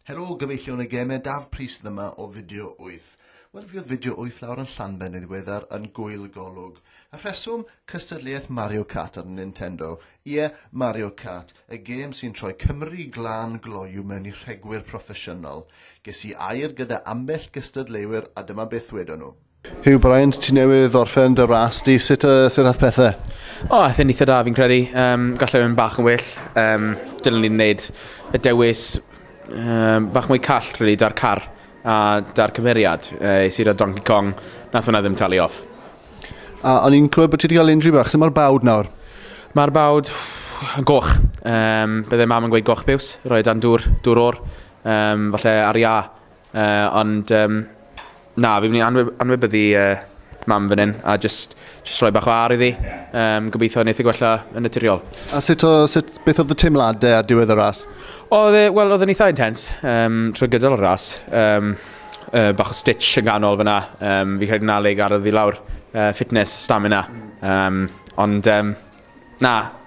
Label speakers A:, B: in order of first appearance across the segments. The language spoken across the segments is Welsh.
A: Helo, gyfeillion y gemau, Daf Prys dyma o fideo 8. Wel, fi oedd fideo 8 lawr yn Llanben yn ddiweddar yn gwyl golwg. Y rheswm, cystadleuaeth Mario Kart ar Nintendo. Ie, Mario Kart, y gêm sy'n troi Cymru glân gloyw mewn i rhegwyr proffesiynol. Ges i air gyda ambell gystadleuwyr a dyma beth wedon nhw. Huw Bryant,
B: ti newydd orffen dy ras di, sut, uh, sut ath pethau? O, oh, athyn eitha da
C: fi'n credu. Um, gallai mynd bach yn well. Um, dylwn ni'n gwneud y dewis um, bach mwy call, really, da'r car a da'r cymeriad. Uh, Sir o Donkey Kong, nath hwnna ddim talu off. A o'n
B: i'n clywed bod ti wedi cael injury bach, sut mae'r bawd nawr? Mae'r bawd
C: yn goch. Um, byddai mam yn gweud goch biws, roi dan dŵr, dŵr o'r. Um, falle ar ia, Uh, ond, um, na, fi'n mynd i anwybyddu uh, mam fan hyn, a just, just rhoi bach o ar iddi. Um, gobeithio wneud y gwella yn naturiol. A sut o, sut,
B: beth oedd y teimladau a diwedd y ras? Oedd e, wel, oedd yn
C: eitha intens um, trwy gydol y ras. Um, uh, bach o stitch yn ganol fyna. Um, fi credu na le garodd fi lawr. Uh, fitness, stamina. Um, ond, um, na,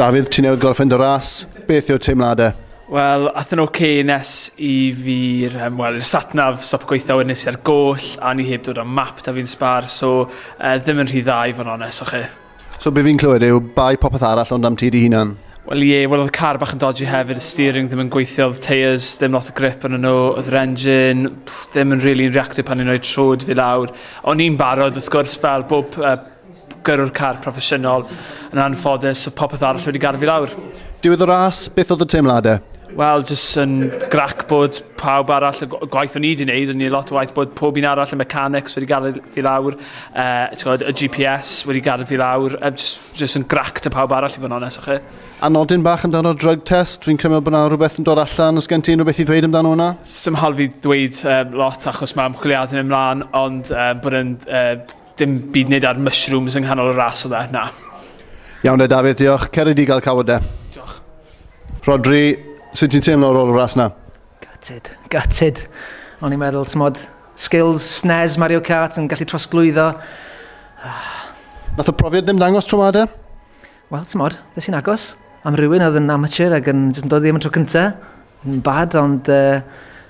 B: Dafydd, ti newydd gorffen dy ras, beth yw'r teimladau? Wel, ath yn
D: ok nes i fi'r, um, wel, i'r satnav stop gweithio wedyn nes i'r goll, a ni heb dod am map da fi'n sbar, so uh, ddim yn rhy dda i fod yn onest, o'ch chi? So be fi'n clywed yw bai
B: popeth arall ond am ti di hunan? Wel ie, wel oedd car
D: bach yn dodgy hefyd, y steering ddim yn gweithio, oedd tyres, ddim lot o grip yn nhw, oedd yr engine, pff, ddim yn really yn reactio pan i'n rhoi trwyd fi lawr. O'n i'n barod, wrth gwrs, fel bob uh, gyrrwr car proffesiynol. Yn anffodus, oedd popeth arall wedi garfu lawr. Diwedd y ras,
B: beth oedd y teimladau? Wel, jyst yn
D: grac bod pawb arall, y gwaith o'n i wedi gwneud, o'n i lot o waith bod pob un arall, y mechanics wedi gadw fi lawr, uh, y GPS wedi gadw fi lawr, uh, just, just yn grac ta pawb arall i fod yn onest chi. A nodyn bach amdano'r
B: drug test, fi'n credu bod yna rhywbeth yn dod allan, os gen ti unrhyw beth i ddweud amdano hwnna? Symhal fi ddweud
D: um, lot achos mae ymchwiliadau yn ymlaen, ond um, bod yn uh, Dim byd nid ar mushrooms yng nghanol y ras oedd e, na. Iawn de
B: Dafydd, diolch. Cered i gael cawod de. Diolch.
D: Rodri,
B: sut ti'n teimlo ar ôl y ras na? Gutted, gutted.
E: O'n i'n meddwl, ti'n modd, skills, SNES, Mario Kart yn gallu trosglwyddo. Ah.
B: Nath y profiad ddim dangos tro ma de? Wel, ti'n modd,
E: ddes i'n agos. Am rhywun oedd yn amateur ac yn, yn dod ddim yn tro cyntaf. Yn bad, ond uh,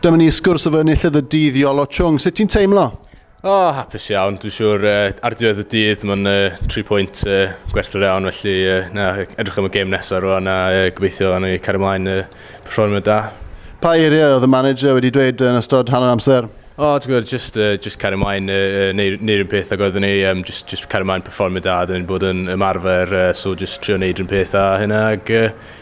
B: Dyma ni sgwrs efo enillydd y dydd Iolo Chung. Sut ti'n teimlo? O, oh, hapus
F: iawn. Dwi'n siŵr uh, ar diwedd y dydd mae'n uh, 3 pwynt uh, gwerthfawr iawn, felly uh, na, edrych am y gêm nesaf rwan a uh, gobeithio yn ei cario ymlaen uh, performio da. Pa eiriau oedd y manager wedi dweud yn ystod hanner amser? O, oh, ti'n gwybod, just, uh, just cario ymlaen, uh, neu'r un peth ag oeddwn ni, um, just, just cario ymlaen performio da, dyn ni'n bod yn ymarfer, uh, so just trio neud un peth a hynna, ag uh,